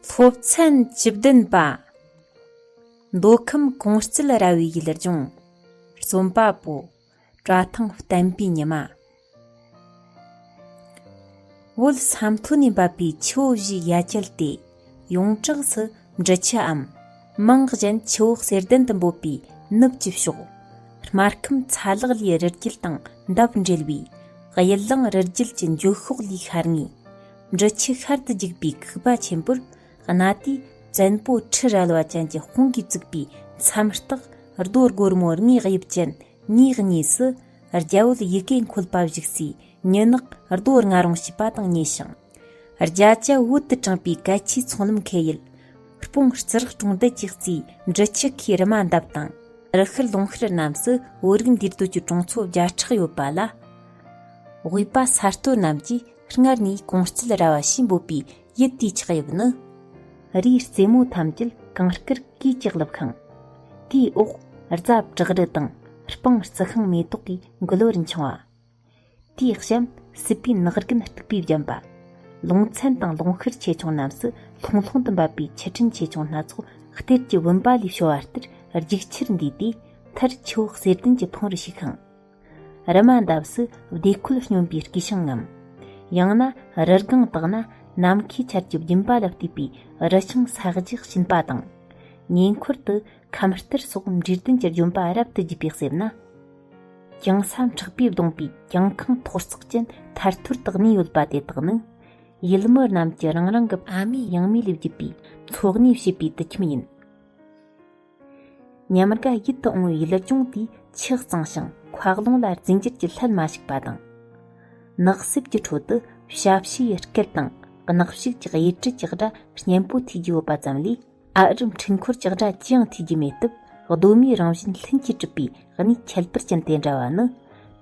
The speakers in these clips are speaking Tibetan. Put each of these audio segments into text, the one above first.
སློབ་ཚན་བཅུ་བདུན་པ། མདོ་ཁམས་གོང་སྤྱིལ་ར་བའི་ཡུལ་ལྗོངས། རྩོམ་པ་པོ། བཀྲ་ཐང་བསྟན་པའི་ཉི་མ། བོད་ས་མཐོ་ནས་འབབ་པའི་ཆུ་བོ་བཞིའི་ཡ་གྱལ་དེ་ཡོངས་གྲགས་སུ་འབྲི་ཆུའམ་རྨང་གཞན་ཆུ་བོ་གསེར་ལྡན་དུ་འབོད་པའི་ནུབ་ཀྱི་ཕྱོགས་སྨར་ཁམས་ཚ་ལག་ལས་རི་རྒྱུད་དང་འདབས་འབྲེལ་བའི་གཡུལ་གླིང་རི་རྒྱུད་ཀྱི་འཇུག་ཤོག་ལས་ཤར་ངོས་འབྲི་ཆུ་ཤར་དུ་འཇུག་པའི་ཁུག་པ་ཆེན་པོར་གནའ་དུས་བཙན་པོ་ཁྲི་རལ་བ་ཅན་གྱི་དཔུང་གིས་བཙུགས་པའི་མཚམས་རྟགས་རྡོ་སྒོར་མོ་ལྔའི་དབྱིབས་ཅན་གཉིས་གཉིས་སུ། རྒྱལ་བུལ་ཡི་གེ་འཁོལ་པ་བཞུགས་སའི་ཉི་ནག་རྡོ་ལྔ་རང་བྱས་པ་དང་གཉིས་ཤིང། རྒྱ་བྱ་བོད་དུ་དྲངས་པའི་གལ་ཆེའི་ཚོང་ལམ་ཁེ་ཡུལ། སྤུངས་རྩི་རགས་གྲོང་རྡལ་གྱི་རྩིས་འབྲི་ཆུ་ཁའི་རི་མ་འདབ་དང། རི་ཤུལ་ལུང་ཤུལ་རྣམས་སུ་བོད་རིགས་འདུས་སྡོད་ཀྱི་གྲོང་ཚོ་བརྒྱ་ཕྲག་ཡོད་པ་ལ། དབུས་པ་ས་སྟོད་རྣམས་ཀྱིས་སྔར་ནས་གོང་སྤྱིལ་ར་བ་ཞེས་འབོད་པའི་ཡུལ་དེའི་ཆགས་དབྱིབས་ནི། རིའི་རྩེ་མོ་ཐམས་ཅད་གངས་སྐྱིད་ཀྱིས་བྱེ་བརླབས་ཤིང། དེའི་འོག་རྫ་བྲག་རི་དང་སྤང་རྩི་ཤིང་མེ་ཏོག་གི་མགོ་ལོ་རུ་འཕྱང་བ། དེའི་གཤམ་སྲིད་པའི་ནགས་རྒན་སྟུག་པོས་བརྒྱན་པ། ལུང་ཚན་དང་ལུང་ཤུར་ཆེ་ཆུང་རྣམས་སུ་ལྷུང་ལྷུང་དུ་འབབ་པའི་ཆུ་ཕྲན་ཆེ་ཆུང་སྣ་ཚོགས་གཏེར་གྱི་བུམ་པ་ལས་བྱུང་བ་ལྟར་རྒྱུག་ཆེར་འདུས་ཏེ་མཐར་ཆུ་བོ་གསེར་ལྡན་གྱི་འཕང་རུ་ཞུགས་ཤིང། རི་མ་འདབས་སུ་བདེ་འཁོད་སྙོམས་པའི་དཀྱིལ་ཤིང་ངམ། ཡང་ན་རི་སྒང་དག་ན་ནམ་མཁའི་ཆར་གྱི་རྒྱུན་པ་ལ་བལྟས་པའི་རི་ཆང་ས་གཞི་བྱིན་པ་དང། ཉེ་འཁོར་དུ་ཁམས་གཏེར་སོགས་འབྲས་ལྡན་གྱི་རྒྱུན་པ་རབ་ཏུ་རྒྱས་པའི་གསེབ་ན། གྱང་ས་མཁྲེགས་པས་བསྡོངས་པའི་གྱང་ཁང་མཐོ་གསག་ཅན་ཐར་ཐོར་དག་གནས་ཡོད་པ་དེ་དག་ནི། ཡུལ་མི་རྣམས་ཀྱི་རང་རང་གི་ཨ་མའི་ཡང་མི་ལས་བརྒྱུད་པའི་འཚོ་གནས་བྱེད་པའི་དུད་ཁྱིམ་ཡིན། ཉམས་དགའ་ཡིད་དུ་འོང་བའི་ལུགས་ལྗོངས་དེ་ཆེས་གཙང་ཞིང་འཁོག་རླུང་ལ་རྫས་འགྱུར་གྱི་ལྷད་མ་ཞུགས་པ་དང། ནགས་གསེབ་ཀྱི་ཁྲོད་དུ་ཞབས་ཕྱིའི་སྐད་དང་གནག་ཕྱུགས་ཀྱི་དབྱེ་འབྲི་ཀྱི་སྒྲ་སྙན་པོ་ཐོས་རྒྱུ་ཡོད་པ་ཙམ་ལས་ཨ་རིའམ་འཕྲུལ་འཁོར་གྱི་སྒྲ་ཅི་ཡང་ཐོས་རྒྱུ་མེད་སྟབས་གདོད་མའི་རང་བཞིན་ལྷུན་གྱིས་གྲུབ་པའི་གནས་ཁྱད་པར་ཅན་དེ་འདྲ་བ་ནི།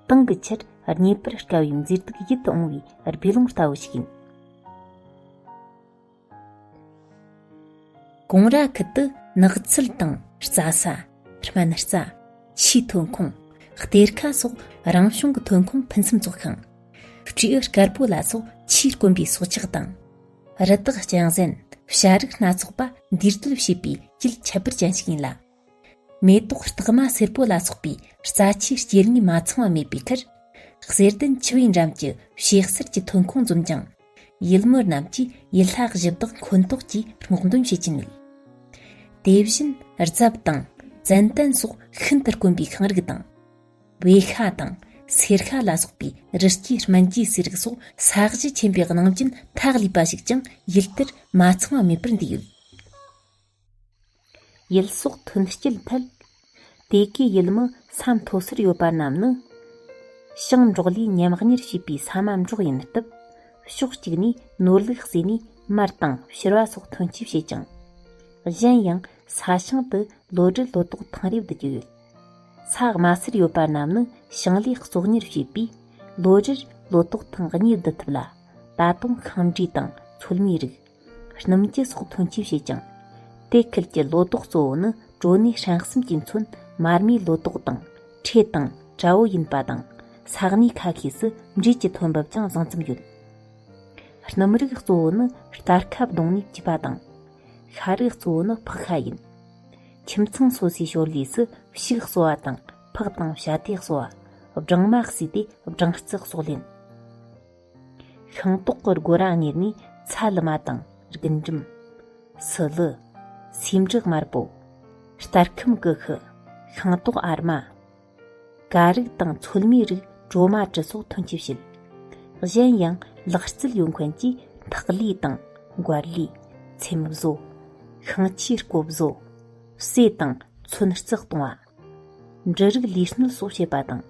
དེང་གི་ཆར་རྙེད་པར་དཀའ་བའི་མཛེས་སྡུག་ཡིད་དུ་འོང་བའི་རྦི་ཀློང་ལྟ་བུ་ཞིག་ཡིན། གོང་ར་ཁུལ་དུ་ནགས་ཚལ་དང་རྩྭ་ས། སྨན་རྩྭ། ཕྱིའི་ཐོན་ཁུངས། གཏེར་ཁ་སོགས་རང་བྱུང་གི་ཐོན་ཁུངས་ཕུན་སུམ་ཚོགས་ཤིང། སྤྲེའུ་དཀར་པོ་ལ་སོགས་ཕྱིར་དཀོན་པའི་སྲོག་ཆགས་དང། རི་དྭགས་རྐྱང་གཟན་བྱ་རིགས་སྣ་ཚོགས་པ་འདུས་སྡོད་བྱེད་པའི་དཀྱིལ་ཁྱད་པར་ཅན་ཞིག་ཡིན་ལ། མེ་ཏོག་རྟགས་མ་སེར་པོ་ལ་སོགས་པའི་རྩ་ཆེའི་སྐྱེ་དངོས་མ་ཚང་བ་མེད་པའི་ཁར། གསེར་ལྡན་ཆུ་བོའི་འགྲམ་གྱི་ཕྱེད་གསེར་གྱི་ཐོན་ཁུངས་འཛོམས་ཀྱང། ཡུལ་མི་རྣམས་ཀྱིས་ཡུལ་ལྷ་གཞི་བདག་འཁོན་གཏོགས་ཀྱི་སྔོག་འདོན་བྱེད་ཀྱི་མེད། དེ་བཞིན་རྫབ་དང་ཙན་དན་སོགས་ཤིན་ཏུ་དཀོན་པའི་ཤིང་རིགས་དང། བེ་ཤ་དང་སེར་ཤ་ལ་སོགས་པའི་རི་སྐྱེས་སྨན་གྱི་སའི་རིགས་སོགས་ས་གཞི་ཆེན་པོའི་ནང་རྐྱེན་ཐག་ལུས་པ་ཞིག་ཀྱང་ཡུལ་དེར་མ་ཚང་བ་མེད་པར་འདུས་ཡོད། ཡུལ་སོགས་མཐུན་སྐྱེད་ཐད། དེ་གའི་ཡུལ་མི་ས་མཐོ་སར་ཡོད་པ་རྣམས་ནི། ཞིང་འབྲོག་ལས་ཉམས་གཉེར་བྱེད་པའི་ས་མ་འབྲོག་ཡིན་སྟབས། ཕྱོགས་གཅིག་ནས་ནོར་ལུག་བརྩིས་ནས་མར་དང་ཕྱུར་བ་སོགས་ཐོན་སྐྱེད་བྱེད་ཅིང། གཞན་ཡང་ས་ཞིང་དུ་ལོ་དྲུག་ལོ་ཏོག་ཐེངས་རེ་བསྡུ་རྒྱུ་ཡོད། ས་དམའ་སར་ཡོད་པ་རྣམས་ནི་ཞིང་ལས་གཙོ་གཉེར་བྱས་པས། ལོ་རེར་ལོ་ཏོག་ཐེངས་གཉིས་བསྡུ་ཐུབ་ལ། ད་དུང་ཤིང་འབྲས་དང་ཚོད་མའི་རིགས། སྣུམ་སྐྱི་སོགས་ཐོན་སྐྱེད་བྱེད་ཅིང། དེ་ཁུལ་གྱི་ལོ་ཏོག་གཙོ་བོ་ནི་གྲོ་ནས་ཧྲེང་གསུམ་གྱི་མཚོན་མར་མའི་ལོ་ཏོག་དང། ཁྲེ་དང་བྲ་བོ་ཡིན་པ་དང། ས་གནས་ཁ་ཤས་སུ་འབྲས་ཀྱི་ཐོན་འབབ་ཀྱང་བཟང་ཙམ་ཡོད། སྣུམ་རིགས་གཙོ་བོ་ནི་སྟར་ཁ་བརྡུངས་ནས་སྐྱིད་པ་དང། ཤ་རིགས་གཙོ་བོ་ནི་ཕག་ཤ་ཡིན། ཁྱིམ་ཚང་སོ་སོའི་ཞོར་ལས་སུ་ཕྱུགས་གསོ་བ་དང་ཕག་དང་བྱ་དེ་གསོ་བ། སྦྲང་མ་བསྲེས་ཏེ་སྦྲང་རྩི་གསོག་ལེན། ཤིང་ཏོག་གི་སྒོ་ར་ངོས་ནས་ཚ་ལུ་མ་དང་རྒུན་འབྲུམ། སུ་ལུ། ཟེའུ་འབྲུ་དམར་པོ། སྟར་ཁམ་ཀུ་ཤུ། ཤིང་ཏོག་ཨར་མ། ཀ་རིགས་དང་ཚོད་མའི་རིགས་གྲོ་མ་དྲི་སོགས་ཐོན་སྐྱེད་བྱེད། གཞན་ཡང་ལག་རྩལ་ཡོད་མཁན་གྱིས་ཐག་ལི་དང་མགར་ལི། ཚེམ་བཟོ། ཤིང་ཆུའི་རྐོ་བཟོ། བསྲེས་དང་ཚོན་བརྩེགས་གཏོང་བ། འབྲུ་རིགས་ལུས་སྣོན་གསོ་བྱེད་པ་དང།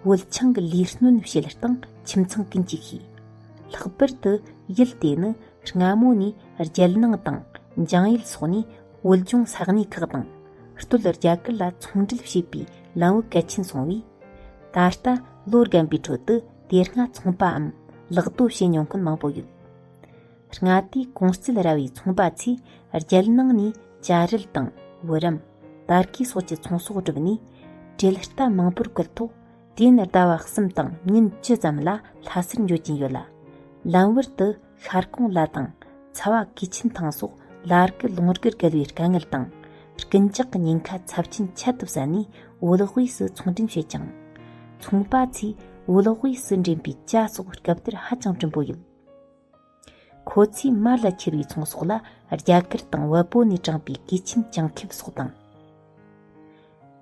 དབུལ་ཆུང་གི་ལུས་སྣོན་བྱེད་སྟངས་ཁྱིམ་ཚང་ཀུན་གྱིས་ཤེས། ལྷག་པར་དུ་ཡུལ་དེ་ནི་སྔ་མོ་ནས་རྒྱལ་ནང་དང་འཇང་ཡུལ་སོགས་ནས་བོད་ལྗོངས་ས་གནས་ཁག་དང་སྟོད་རྒྱ་གར་ལ་ཚོང་འབྲེལ་བྱེད་པའི་ལམ་བུ་གལ་ཆེན་སོང་བས། ད་ལྟ་ལོ་རྒན་པའི་ཁྲོད་དུ་དེ་སྔ་ཚོང་པའམ་ལག་བསྟོད་བྱེད་མྱོང་མཁན་མང་པོ་ཡོད། མངའ་སྡེའི་ཀུང་སིལ་ར་བའི་ཚོང་པ་ཚོས་རྒྱལ་ནང་ནས་བྱ་རིལ་དང་བུ་རམ། པར་གས་སོགས་ཀྱི་ཚོང་ཟོག་བསྒྲུབས་ནས་གྲལ་རྟ་མང་པོར་བཀོལ་ཐོག་དུས་ཡུན་ཟླ་བ་གསུམ་དང་ཉིན་བཅུ་ཙམ་ལ་ལྷ་སར་འབྱོར་གྱིན་ཡོད་ལ། ལམ་བར་དུ་ཤར་གོང་ལ་དང་ཚ་བ་གིས་ཆིན་ཐང་སོགས་ལ་རྐུ་ལུང་རྒྱུར་བརྒལ་བའི་དཀའ་ངལ་དང། རྐུན་ཇག་གི་ཉེན་ཁ་ཚབས་ཆེན་ཁྱད་དུ་བསད་ནས་བོད་དབུས་སུ་ཚོང་འདྲེན་བྱེད་ཅིང། ཚོང་པ་ཚོས་བོད་དབུས་སུ་འདྲེན་པའི་བྱ་སོགས་རྐུབ་སྟེར་ཧ་ཅང་བྲིན་པོ་ཡོད། ཁོ་ཚོས་མར་ལ་འཁྱེར་བའི་ཚོང་ཟོག་ལ་རྒྱ་གར་དང་བལ་པོ་ནས་དྲངས་པའི་གོས་ཆེན་བྱང་ཁེབས་སོགས་དང།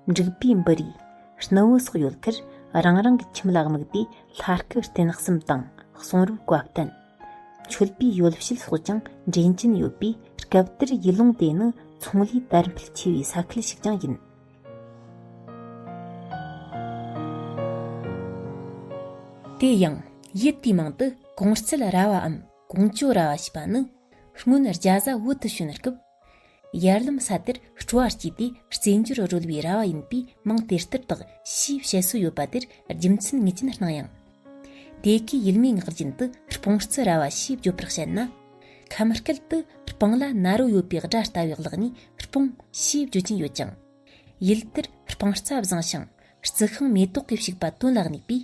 འབྲུག་པའི་འབུ་རིའི་སྣོད་བུ་སོགས་ཡོད་ཁར་རང་རང་གི་ཁྱིམ་ལ་དམིགས་ཏེ་ལྷ་སྐུ་རྟེན་གསུམ་དང་གསུང་རབ་བཀའ་བསྟན། མཆོད་པའི་ཡོ་བྱད་སོགས་ཀྱང་འདྲེན་གྱིན་ཡོད་པས་སྐབས་དེར་ཡུལ་ལུང་དེ་ནི་ཚོང་ལས་དར་འཕེལ་ཆེ་བའི་ས་ཁུལ་ཞིག་ཀྱང་ཡིན། དེ་ཡང་ཡུལ་དུས་མང་དུ་གོང་བརྩེགས་ར་བའམ་གོང་བཅོ་ར་བ་ཞེས་པ་ནི་སྔོན་རྒྱ་བཟའ་བོད་དུ་བྱོན་སྐབས། ཡར་ལམ་ས་དེར་སྤྲོ་བ་སྐྱེས་ཏེ་རྩེད་འཇོར་རོལ་བའི་ར་བ་ཡིན་པས་མིང་དེ་ལྟར་བཏགས་ཞེས་བཤད་སྲོལ་ཡོད་པ་དེར་རྒྱུ་མཚན་ངེས་ཅན་སྣང་ཡང། དེ་སྐད་ཡུལ་མིའི་ངག་རྒྱུན་དུ་སྤུང་རྩི་ར་བ་ཞེས་བརྗོད་པར་བཤད་ན། ཁམས་སྐད་དུ་སྤང་ལ་ན་རོ་ཡོད་པའི་སྒྲ་ལྟ་བའི་གླགས་ནས་སྤུང་ཞེས་བརྗོད་ཀྱིན་ཡོད་ཀྱང། ཡུལ་དེར་སྤང་རྩ་བཟང་ཞིང་རྩི་ཤིང་མེ་ཏོག་གིས་བྱུགས་པ་དོན་ལ་གནས་པས།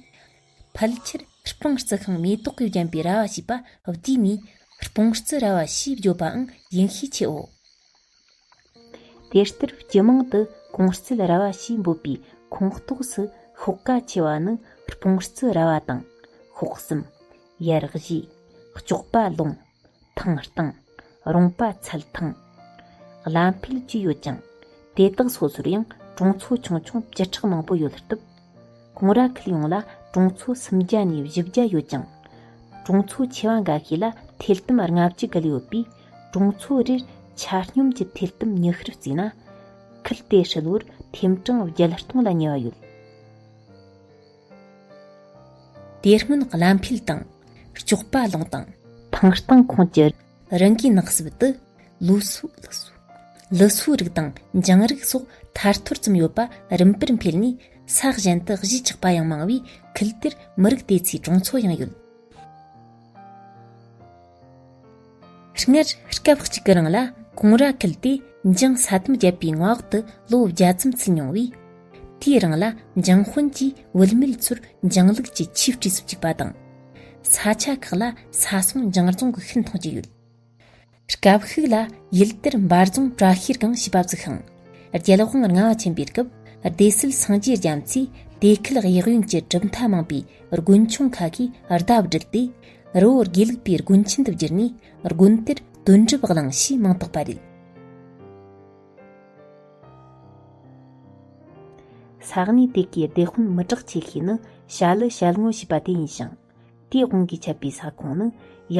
ཕལ་ཆེར་སྤང་རྩི་ཤིང་མེ་ཏོག་གིས་བརྒྱན་པའི་ར་བ་ཞེས་པ་བསྡུས་ནས་སྤུང་རྩི་ར་བ་ཞེས་བརྗོད་པའང་ཡིན་ཤས་ཆེའོ། དེ་ལྟར་སྤྱི་དམངས་ཀྱི་ཀུང་སིའི་ར་བ་ཞེས་འབོད་པའི་ཁོངས་གཏོགས་སུ་ཤོག་ཀ་ཆེ་བ་ནི་སྤུངས་རྩི་ར་བ་དང། ཤོག་གསུམ། ཡར་བཞི། ལྕོག་པ་ལུང། ཐང་སྟེང། རོང་པ་ཚལ་ཐང། བླ་འཕེལ་བཅས་ཡོད་ཅིང། དེ་དག་སོ་སོར་ཡང་གྲོང་ཚོ་ཆུང་ཆུང་བཅུ་ཕྲག་མང་པོ་ཡོད་སྟབས། ཀུང་ར་ཁུལ་ཡོངས་ལ་གྲོང་ཚོ་སུམ་བརྒྱ་ནས་བཞི་བརྒྱ་ཡོད་ཅིང། གྲོང་ཚོ་ཆེ་བ་འགའ་ཤས་ལ་ཐལ་དམ་ལྔ་བཅུ་བརྒལ་ཡོད་པས། གྲོང་ཚོ་རེར་ཆ་སྙོམས་ཀྱི་ཐིལ་དུམ་ཉི་ཤུར་བརྩིས་ན་ཁུལ་དེ་ཧྲིལ་བོར་ཐེམ་གྲངས་བརྒྱད་སྟོང་ལ་ཉེ་བ་ཡོད། དེ་སྔོན་བླ་འཕེལ་དང་ལྕོགས་པ་གླིང་དང། ཐང་སྟེང་ཁོངས་ཀྱི་རང་གི་ནགས་སྲིབ་དུ་ལུའུ་སུའུ། ལི་སུའུ་རིགས་དང་འཇང་རིགས་སོགས་ཐར་ཐོར་ཙམ་ཡོད་པ་རིམ་པར་འཕེལ་ནས་ས་གཞན་དུ་གཞིས་ཆགས་པ་ཡང་མང་བས་ཁུལ་དེར་མི་རིགས་དེ་ཚོའི་གྲོང་ཚོ་ཡང་ཡོད། སྔར་སྐབས་གཅིག་གི་རིང་ལ་གོང་ར་ཁལ་དེ་འཇང་ས་དམ་བརྒྱད་པའི་མངའ་འོག་ཏུ་ལོ་བརྒྱ་ཙམ་ཚུད་མྱོང་བས། དེའི་རིང་ལ་འཇང་དཔོན་གྱིས་བུད་མེད་ཚོར་འཇང་ལུགས་ཀྱི་ཆོས་སྤྲས་སུ་བཅུག་པ་དང། ས་ཆ་ཁག་ལ་ས་སོང་འཇང་རྫོང་གི་ཤིན་ཐང་ཅིག་ཡོད། སྐབས་ཤིག་ལ་ཡུལ་དེར་འབར་རྫོང་བྲག་ཤེར་སྒང་ཞེས་པ་བཙུགས་ཤིང། རྒྱལ་དབང་ལྔ་བ་ཆེན་པོའི་སྐབས་སྡེ་སྲིད་སངས་རྒྱས་རྒྱ་མཚོས་དེ་ཁུལ་གཡག་གཡོན་གྱི་གྲུབ་མཐའ་མང་པའི་དགོན་ཆུང་ཁ་ཤས་ཟླ་བསྒྲིལ་ཏེ། རི་བོ་དགེ་ལུགས་པའི་དགོན་ཆེན་དུ་བསྒྱུར་ནས་དགོན་དེར་དོན་གྲུབ་བླངས་ཞེས་མིང་བཏགས་པ་རེད། ས་གནས་དེ་གའི་བདེ་དཔོན་མི་དྲག་ཆེ་ཤོས་ནི་ཞྭ་ལི་ཞལ་ངོ་ཞེས་པ་དེ་ཡིན་ཞིང། དེའི་དབང་གིས་ཆད་པའི་ས་ཁོངས་ནི་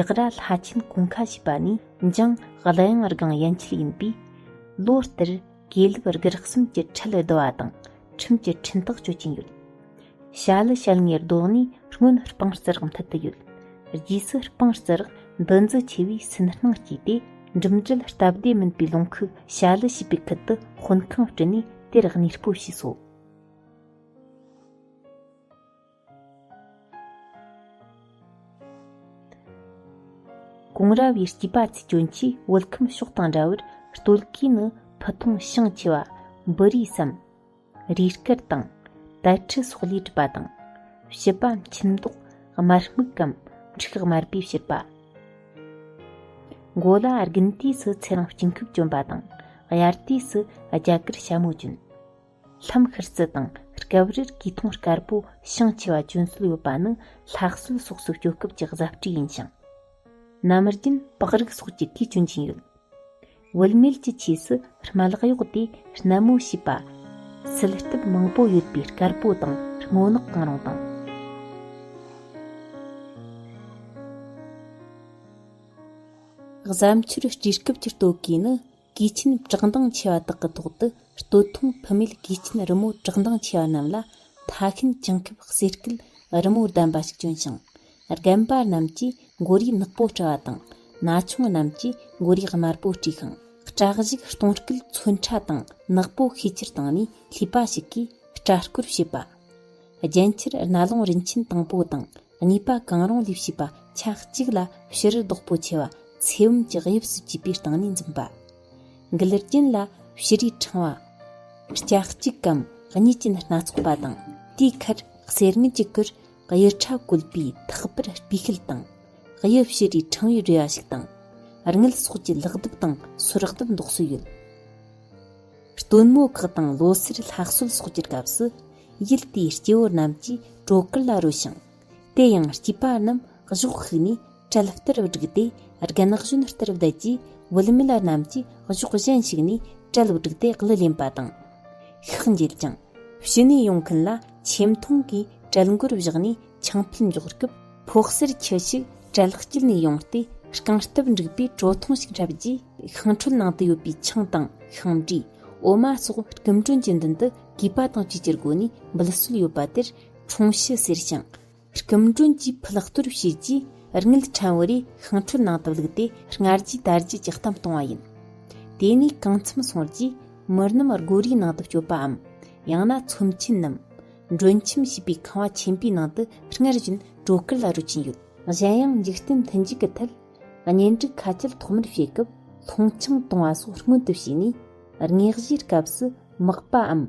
ཡག་ར་ལྷ་ཆེན་གོང་ཁ་ཞེས་པ་ནས་འབྱུང་གླུ་དབྱངས་རྒང་ཡན་ཆད་ཡིན་པས། ལོ་ལྟར་དགེ་ལུགས་རྒྱུ་རགས་གསུམ་གྱི་ཁྲི་ལི་བརྡོལ་བ་དང་ཁྲིམས་ཀྱི་འཕྲིན་ཐག་གཅོད་ཀྱིན་ཡོད། བྱ་ལི་བྱ་ལྔའི་རྡོག་ནི་སྔོན་སྤང་རྩི་རགས་མཐུད་དུ་ཡོད། རྗེས་སུ་སྤང་རྩི་རགས་འདུ་འཛི་ཆེ་བས་སུན་སྣང་སྐྱེས་ཏེ་འགྲིམ་འགྲུལ་སྟབས་བདེ་མིན་པའི་ལུང་ཁུག་བྱ་ལི་ཞེས་པའི་ཁུལ་དུ་དཔོན་ཁང་བསྐྲུན་ནས་དེར་གནས་སྤོ་བྱས་སོ། གོང་ར་བའི་སྐྱེས་པ་ཚུལ་སྐྱོན་གྱིས་བོད་ཁམས་ཕྱོགས་དང་འདྲ་བར་སྟོད་གོས་ནི་ཕུ་ཐུང་ཤིང་ཆེ་བ། འབུ་རིའི་སྲམ། རུས་སྐལ་དང། དལ་ཁྲི་སོགས་ལས་གྲུབ་པ་དང། བྱི་པ་མཆིན་མདོག། དམར་སྨུག་གམ། མཁྲིག་དམར་པོས་བྱུར་པ། མགོ་ལ་དགུན་དུས་སུ་ཚེ་རིང་དཀྱིལ་འཁོད་གྱོན་པ་དང། དབྱར་དུས་སུ་རྒྱ་གར་ཞྭ་མོ་གྱོན། ལྷམ་ཤར་རྩི་དང་སྐབས་རེར་དཀྱིལ་ཐུང་དཀར་པོ་བྱང་ཆེ་བ་གྱོན་སྲོལ་ཡོད་པ་ནི་ལྷ་གསོལ་སོགས་སུ་སྐྱོད་སྐབས་ཀྱི་བཟའ་བཀྲིས་ཡིན་ཞིང། ནམ་རྒྱུན་པགས་རིགས་སོགས་ཀྱི་གོས་གྱོན་གྱིན་ཡོད། བུད་མེད་ཀྱི་ཆས་སུ་རྨ་ལག་གཡོགས་ཏེ་སྣལ་མོ་བྱེད་པ། སིལ་སྟབས་མང་པོ་ཡོད་པའི་དཀར་པོ་དང་སྔོ་ནག་གང་རུང་དང། གཟའ་མཆོར་སྤྲས་སྐབས་ཀྱི་སྟོད་གོས་ནི། གིས་ཆེན་བཀྲག་མདངས་ཆེ་བ་དག་གི་ཐོག་ཏུ་སྟོད་ཐུང་བུད་མེད་གིས་ཆེན་རི་མོ་བཀྲག་མདངས་ཆེ་བ་རྣམས་ལ་མཐའ་ཤིན་ཅང་ཁེབས་གསེར་སྐུད་རི་མོ་བདམས་པ་ཞིག་བྱོན་ཞིང་རྒན་པ་རྣམས་ཀྱིས་མགོ་རིས་ནག་པོ་བཀྲ་བ་དང་ན་ཆུང་རྣམས་ཀྱིས་མགོ་རིས་དམར་པོ་བཀྲས་ཤིང་བཀྲག་གཞུག་གཏོང་སྐུད་མཚོན་ཁྲ་དང་ནག་པོ་ཤས་ཆེར་བཏང་ནས་ལྷས་པ་ཞིག་གིས་བཀྲ་བསྐོར་བྱེད་པ། རྒྱན་ཆར་རྣ་ལོང་རིན་ཆེན་དང་པོ་དང་གཉིས་པ་གང་རུང་ལས་བྱེད་པ་ཆ་གཅིག་ལ་ཕྱི་རུ་བདག་པོ་ཆེ་བ་ཚེ་བུམ་གྱི་དབྱིབས་སུ་བགྱིས་པའི་སྟེང་ནས་འཛིན་པ། མགུལ་རྒྱུན་ལ་ཕྱི་རུའི་ཕྲེང་བ། ལྕགས་གཅིག་གམ་གཉིས་ཅན་སྣ་ཚོགས་པ་དང་དེའི་ཁར་གསེར་དངུལ་གྱི་གུར་དབྱི་ཕྲ་བཀོད་པའི་ཐག་པར་སྤུས་ཤེལ་དང་དབྱི་ཕྱི་རུའི་ཕྲེང་བའི་རེ་བ་ཞིག་དང། རྔུལ་སོགས་ཀྱི་ལག་རྡུབ་དང་སོར་རྡུབ་འདོགས་སྲོལ་ཡོད། སྟོན་མོ་ཁག་དང་ལོ་སར་ལྷག་གསོལ་སོགས་ཀྱི་སྐབས་སུ་ཡུལ་དེའི་སྐྱེ་བོ་རྣམས་ཀྱིས་སྤྲོ་དཀར་ལ་རོལ་ཞིང། དེ་ཡང་སྐྱེས་པ་རྣམས་གཞོགས་ཤིག་ནས་གྲལ་ལྟར་བསྒྲིགས་ཏེ་རྒན་གཞོན་ལྟར་བསྡད་རྗེས་བུད་མེད་རྣམས་ཀྱིས་གཞོགས་གཞན་ཞིག་ནས་གྲལ་བསྒྲིགས་ཏེ་གླུ་ལེན་པ་དང། ཤག་འགྱེལ་ཅིང་ཕྱི་ནས་ཡོང་མཁན་ལ་ཆེམ་མཐོང་གིས་གྲལ་མགོར་བཞག་ནས་ཆང་ཕུད་འཇོག་སྐབས་ཕོག་སར་ཁྱུ་ཞིག་གྲལ་དཀྱིལ་ནས་ཡོང་སྟེ་རྐང་སྟབས་འགྲིག་པའི་གྲོ་ཐུང་ཞིག་འཁྲབ་རྗེས། ཤིང་ཁྲོད་ནང་དུ་ཡོད་པའི་ཆང་དང་ཤིང་འབྲས་འོ་མ་སོགས་སྐུ་མགྲོན་གྱི་མདུན་དུ་གུས་པ་དང་བཅས་ཀྱི་སྒོ་ནས་འབུལ་སྲོལ་ཡོད་པ་དེར་འཁྲུངས་ཤིས་ཟེར་ཞིང། སྐུ་མགྲོན་གྱིས་ཕུད་གཏོར་བྱས་རྗེས་རྔུལ་ཕྲན་བུ་རེ་ཤིང་ཁྲོད་ནང་དུ་བླུགས་ཏེ་སྔར་རྒྱུའི་དར་རྒྱས་ཀྱི་གཏམ་གཏོང་བ་ཡིན། དེ་ནས་གང་འཚམས་སོང་རྗེས་མི་རྣམས་སྒོ་རའི་ནང་དུ་སྐྱོད་པའམ་ཡང་ན་ཚོམས་ཆེན་ནམ། མགྲོན་ཁྱིམ་ཞེས་པའི་ཁང་བ་ཆེན་པོའི་ནང་དུ་སྔར་བཞིན་སྤྲོ་གར་ལ་རོལ་གྱིན་ཡོད། གཞན་ཡང་འཇིག་རྟེན་མཐུན་འཇུག་གི་ཐད། གཉེན་སྒྲིག་ཁ་སྐྱེལ་ཐོག་མར་བྱེད་སྐབས་མཐོང་ཆུང་གཏོང་བ་སོགས་སྔོན་དུ་བྱས་ནས་བསྔགས་བཞེས་སྐབས་སུ་དམག་པའམ་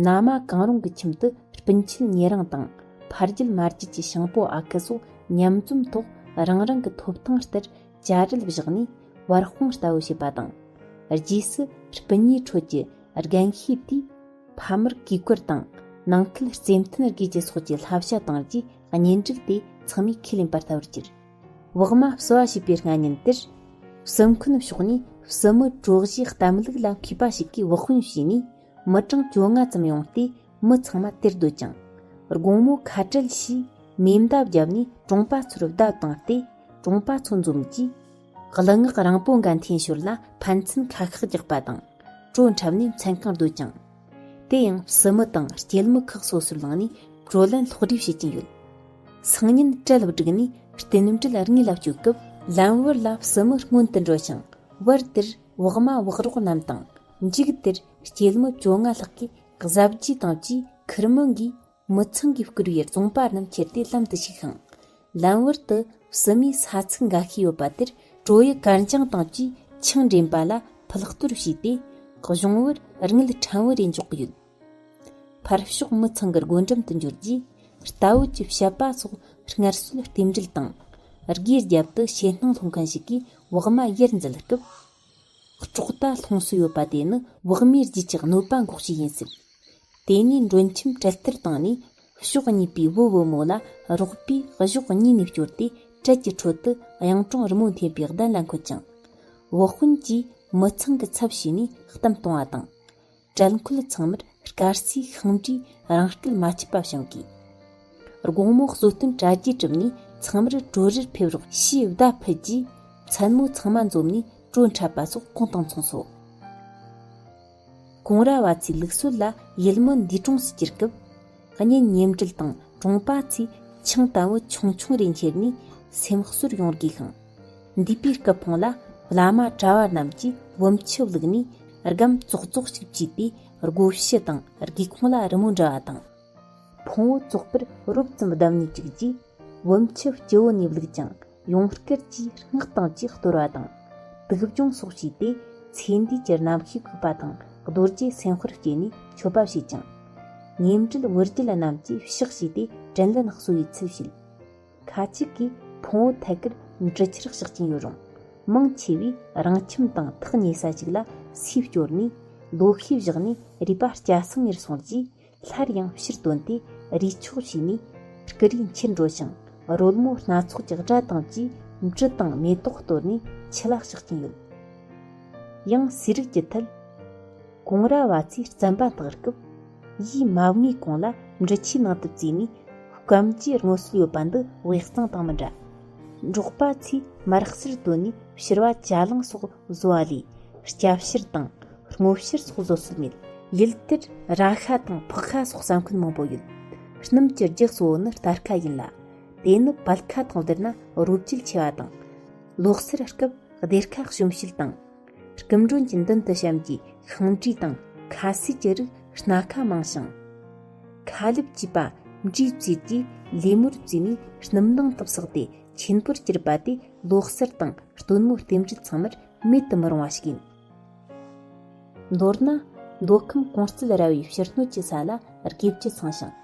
ན་མ་གང་རུང་གི་ཁྱིམ་དུ་སྤུན་ཆེད་ཉེ་རིང་དང་ཕ་རྒྱུད་མ་རྒྱུད་ཀྱི་ཤིང་པོ་ཨ་ཁུ་སོགས་མཉམ་འཛོམས་ཐོག་རང་རང་གི་ཐོབ་ཐང་ལྟར་བྱ་རིལ་བཞག་ནས་བར་སྤོང་ལྟ་བུ་བྱེད་པ་དང། རྗེས་སུ་སྤུན་ཉེའི་ཁྲོད་ཀྱི་རྒན་ཤེས་དུས་ཕ་མར་གུས་བཀུར་དང་ནང་ཁུལ་རྩེ་མཐུན་དགོས་ཅེས་སོགས་ཀྱི་བསླབ་བྱ་བཏང་རྗེས་གཉེན་སྒྲིག་དེ་ཚང་མས་ཁས་ལེན་པར་ལྟ་བུར་གྱུར། བག་མ་བསུ་བ་བྱེད་པའི་སྔ་ཉིན་དེར། བསུ་མཁན་ཕྱོགས་ནས་བསུ་མི་གྲོགས་བཞིའི་གཏམ་ལུགས་ལ་མཁས་པ་ཞིག་གིས་བག་སྐོན་བྱས་ནས་མི་གྲངས་བཅོ་ལྔ་ཙམ་ཡོང་སྟེ་མི་ཚང་མ་དེར་སྡོད་ཅིང། དགོང་མོ་ཁ་བྲལ་ཞེས་མེ་མདའ་བརྒྱབ་ནས་གྲོང་པ་ཚོར་བརྡ་བཏང་སྟེ་གྲོང་པ་ཚོ་འཛོམས་རྗེས། གླུ་ངག་རིང་པོ་འགའ་འཐེན་ཞོར་ལ་ཕན་ཚུན་ཁ་ཤགས་རྒྱག་པ་དང། བྲོ་འཁྲབ་ནས་མཚན་གང་སྡོད་ཅིང། དེ་ཡང་སྲིད་མི་དང་སྐྱེད་མི་ཁག་སོ་སོར་ལངས་ནས་བགྲོ་གླེང་ལྷོག་སྒྲིག་བྱེད་ཀྱིན་ཡོད། སང་ཉིན་གྲལ་བསྒྲིགས་ནས་རྟེན་འབྲེལ་རྙིང་ལ་བསྐྱོད་སྐབས་ལམ་བར་ལ་སྲིད་མི་སྔོན་དུ་འགྲོ་ཞིང་བར་དེར་བག་མ་བག་རོགས་རྣམས་དང་མཇུག་དེར་སྐྱེད་མི་བཅོ་ལྔ་ལྷག་གིས་གཟབ་རྒྱས་བཏང་རྗེས་ཁིར་མི་འགའི་མི་ཚང་གིས་བསྐུར་བའི་རྫོང་པ་རྣམས་ཁྱེར་ཏེ་ལམ་དུ་ཞུགས་ཤིང། ལམ་བར་དུ་བསུ་མའི་ས་ཚིགས་འགའ་ཤས་ཡོད་པ་དེར་ཀྲོའུ་ཡི་གར་འཆང་དང་བཅས་ཆིང་འདྲེན་པ་ལ་ཕུལ་གཏོར་བྱས་ཏེ། གཞུང་བར་རིང་ལུགས་ཕྲན་བུ་རེ་འཇོག་གི་ཡོད། ཕར་ཕྱོགས་མི་ཚང་གི་སྒོ་འགྲམ་དུ་འབྱོར་རྗེས་རྟ་བོད་ཀྱི་བཤད་པ་སོགས་སྔར་སྲོལ་རྟེན་འབྲེལ་དང། སྒོས་རྒྱབ་ཏུ་ཕྱེད་སྣང་སློང་མཁན་ཞིག་གིས་བོགས་མ་གཡེར་འཛུལ་སྐབས། ལྕོག་རྟ་ལྷུང་སྲིད་ཡོད་པ་དེ་ནི་བག་མའི་རྒྱུད་ཀྱི་གནོད་པ་འགོག་བྱེད་ཡིན་སྲིད། དེ་ནས་མགྲོན་ཁྱིམ་གྲལ་སྟར་བཏང་ནས་ཕྱོགས་གཉིས་པའི་བུ་བུ་མོ་ལ་རོགས་པའི་གཞོགས་གཉིས་ནས་བསྐྱོར་ཏེ་གྲལ་གྱི་ཁྲོད་དུ་གཡང་གྲོང་རི་མོ་འཐེན་པའི་གདན་ལ་འཁོད་ཅིང། བུ་སྤུན་གྱིས་མི་ཚང་གི་ཚབ་བྱས་ནས་གཏམ་གཏོང་བ་དང། བྲན་ཁོལ་ཚང་མར་སྐར་རྩིས་ཤིང་འབྲས་རང་སྐལ་མ་ཆད་པ་བྱུང་དགོས། དགོང་མོ་གསོལ་སྟོན་གྲ་རྒྱས་གྲུབ་ནས་ཚང་མར་བྲོ་རིར་ཕེབས་རོགས་ཞེས་བརྡ་ཕུལ་རྗེས་མཚན་མོ་ཚང་མ་འཛོམས་ནས་བྲོ་འཁྲབ་པ་སོགས་གང་དང་མཚུངས་སོ། ཀོང་ར་བ་ཚོའི་ལུགས་སྲོལ་ལ་ཡུལ་མི་འདུས་གྲོངས་སུ་གྱུར་སྐབས། གཉེན་ཉེ་འབྲེལ་དང་གྲོང་པ་ཚོས་ཆང་དལ་བུ་ཆུང་ཆུང་རེ་འཁྱེར་ནས་སེམས་གསོར་ཡོང་དགོས་ཤིང། འདས་པའི་སྐུ་ཕུང་ལ་བླ་མ་གྲྭ་བ་རྣམས་ཀྱིས་བུམ་ཆུ་བླུགས་ནས་སྒམ་ཙོག་ཙོག་ཅིག་བཅུས་པས་སྒོ་ཕྱི་དང་སྒེའུ་ཁུང་ལ་རི་མོ་འབྲི་བ་དང། ཕུང་བོ་བཙོག་པར་རོབ་ཙམ་བསྡམས་ནས་བཅུག་རྗེས། བུམ་ཆུ་སྤྱི་བོ་ནས་བླུགས་ཀྱང་ཡང་བསྐྱར་གྱིས་སྔགས་དང་བཅས་གཏོར་བ་དང། དུག་སྦྱོང་སོགས་བྱས་ཏེ་ཚེ་འདིའི་གྱི་ནམ་ཤེས་བསྐུལ་པ་དང་རྡོ་རྗེ་སེམས་དཔར་བསྐྱེད་ནས་མཆོད་པ་བྱས་ཀྱང། ཉེ་འབྲེལ་དབུ་རྒྱུད་རྣམས་ཀྱིས་གཤེགས་བྱས་ཏེ་དྲིན་ལན་གསོ་བའི་ཚུལ་བྱེད། ཁ་ཅིག་གིས་ཕུང་བོ་ཐད་ཀར་འབྲི་ཆུར་གཤེགས་ཀྱིན་ཡོད་རུང། མང་ཆེ་བས་རང་ཁྱིམ་དང་ཐག་ཉེ་ས་ཞིག་ལ་སུས་བསྐྱོར་ནས་ལོ་ཤས་བཞག་ནས་རུས་པ་སྐྱ་སེང་ངེར་སོང་རྗེས། སླར་ཡང་ཕྱིར་དོན་ཏེ་རུས་ཆོག་བྱས་ནས་སྐུ་རུས་འཁྱེར་འགྲོ་ཞིང་རོལ་མོ་སྣ་ཚོགས་ཀྱི་སྒྲ་དང་བཅས་མྲི་དང་མེ་ཏོག་གཏོར་ནས་ཕྱི་ལ་བཤགས་ཀྱིན་ཡོད། ཡང་ཟས་རིགས་ཀྱི་མཐུད། གོང་ར་བ་ཚོས་རྩམ་པ་འཐག་སྐབས། ཡིས་མ་བསྔོས་གོང་ལ་མྲི་ཆུའི་ནང་དུ་བཙོས་ནས་སྐམ་གྱི་སྔོ་སོལ་ཡོད་པ་འདི་དབྱི་གཙང་དང་མི་འདྲ། འབྲོག་པ་ཚོས་མར་གསེར་བཏོན་ནས་ཕྱིར་བ་བྱ་གླང་སོགས་བཟོ་བ་ལས་སྐྱ་བཤེར་དང་སྔོ་བཤེར་སོགས་བཟོ་སྲོལ་མེད། ཡུལ་དེར་ར་ཤ་དང་ཕག་ཤ་སོགས་ས་འཁོན་མང་པོ་ཡོད། སྣུམ་གྱི་རྒྱུ་གཙོ་བོ་ནི་སྟར་ཁ་ཡིན་ལ། དེ་ནི་བལ་ཁ་དང་བསྡུར་ན་རོ་བསྐྱེད་ཆེ་བ་དང། ལོག་སེར་སྐབས་སྡེར་ཁ་གཤོམ་བཤུལ་དང། སྐུ་མགྲོན་གྱི་མདུན་དུ་བྱམས་ཀྱི་ཤིང་འབྲས་དང་ཁ་ཟས་ཀྱི་རིགས་སྣ་ཁ་མང་ཞིང། ཁ་ལུད་ཅེས་པ་འབྲས་བཙོས་ཀྱིས་ལས་མོར་བཙོས་ནས་སྣུམ་ནང་དུ་བསགས་ཏེ་ཆེན་པོར་གྱུར་པ་དེ་ལོག་གསར་དང་སྟོན་མོ་རྟེན་འབྲེལ་ཚང་མར་མེད་དུ་མི་རུང་བ་ཞིག་ཡིན། མདོར་ན། མདོ་ཁམས་གོང་གསལ་ར་བའི་ཕྱིར་སྣོད་ཀྱི་ས་ལ་རྒས་རྒྱ་ཚང་ཞིང།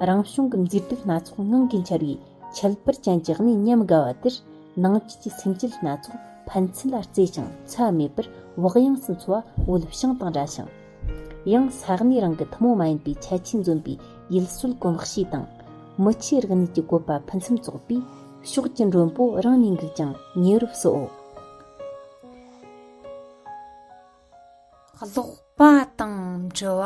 རང་བྱུང་གི་མཛེས་སྡུག་སྣ་ཚོགས་ངང་གིས་འཆར་བའི་ཁྱད་པར་ཅན་གྱི་གནས་ཉམས་དགའ་བ་དེར་ནང་བཅུད་ཀྱི་སེམས་བསྐྱེད་སྣ་ཚོགས་ཕན་ཚུན་ལ་བརྩེ་ཞིང་འཚེ་བ་མེད་པར་བག་ཡངས་སུ་འཚོ་བ་འོད་བྱང་དང་འདྲ་ཞིང། ཡང་ས་གནས་རང་གི་ཐུན་མོང་མ་ཡིན་པའི་ཁྱད་ཆོས་འཛོམས་པའི་ཡུལ་སྲོལ་གོམས་གཤིས་དང། མི་ཆོས་རིག་གནས་ཀྱི་བཀོད་པ་ཕུན་སུམ་ཚོགས་པས་ཕྱོགས་ཀྱི་མགྲོན་པོ་རང་ནས་འགུགས་ཀྱང་ཉེ་རུ་བསོའོ། ཀློག་པ་དང་འབྲི་བ།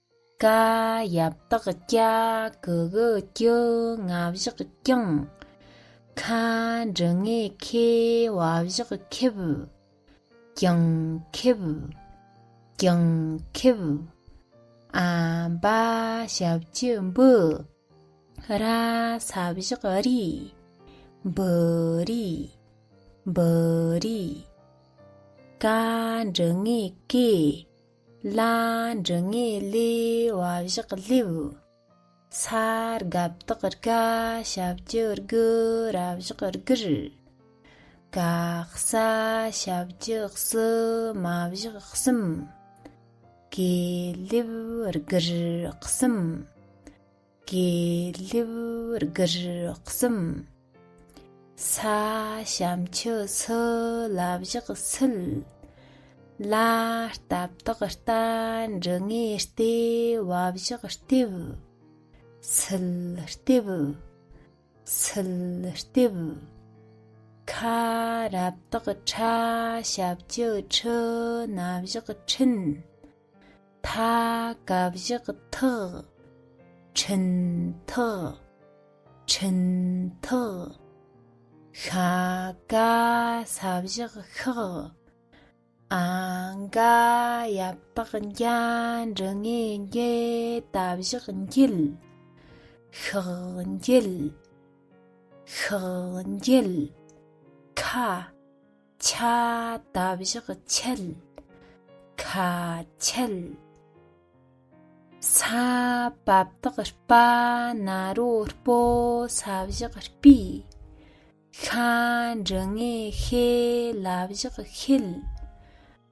ཀ་ཡབ་དག་སྐྱ་གི་གི་ཀྱི་ང་བཞག་ཀྱང། ཁ་འབྲི་ངེ་ཁེ་བ་བཞག་ཁེབ། ཀྱང་ཁེབ། ཀྱང་ཁེབ། ཨ་འབའ་ཞབས་ཀྱི་འབུ། ར་ས་བཞག་རི། འབུ་རི། འབུ་རི། ཀ་འབྲི་ངེ་ཀེ། ལ་འབྲུ་ངེས་ལེ་བ་བཞག་སླེབ། ས་རྒབ་དག་རཀ་ཞབས་ཀྱི་རྒུ་ར་བཞག་རྒུར། ཀ་ས་ཞབས་ཀྱི་བསུ་མ་བཞག་གསུམ། ཀེ་ལེབ་རྒུར་གསུམ། དགེ་ལེགས་དགུར་གསུམ། ས་བྱམས་ཆུ་སོ་ལ་བཞག་སུལ། ལ་སྟབས་དག་རྟ་འབྲི་ངེ་ལྟེ་བ་བཞག་ལྟེབ། སུལ་ལྟེབ། སུལ་ལྟེབ། ཁ་རབ་དག་ཕྲ་ཞབས་ཀྱི་ཁྲི་སྣ་བཞག་ཕྲིན། མཐའ་བཀའ་བཞག་ཐག། འཕྲིན་ཐག། འཕྲིན་ཐག། ཤ་བཀའ་ས་བཞག་ཤག། ཨ་འགའ་ཡབ་དག་འཇའ་འབྲུ་ངེ་འགྱེ་ད་བཞག་འགྱེལ། ཤག་འགྱེལ། ཤག་འགྱེལ། ཁ། ཆ་ད་བཞག་ཆལ་ཁ་ཆལ། ས་བབ་དག་སྤ་ན་རོ་སྤོ་ས་བཞག་སྤི། ཤ་འབྲི་ངེ་ཤེ་ལ་བཞག་ཤེལ།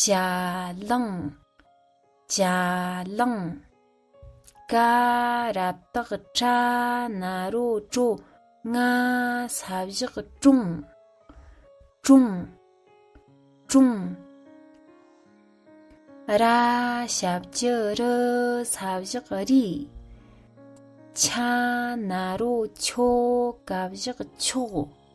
ཅ་ལང་ཅ་ལང་ཀ་རབ་དག་ཁྲ་ན་རོ་ཀྲོ་ང་ས་བཞག་ཀྲུང་ཀྲུང་ཀྲུང་ར་ཞབས་ཀྱི་རུ་ས་བཞག་རི་ཆ་ན་རོ་ཆོ་ག་བཞག་ཆོག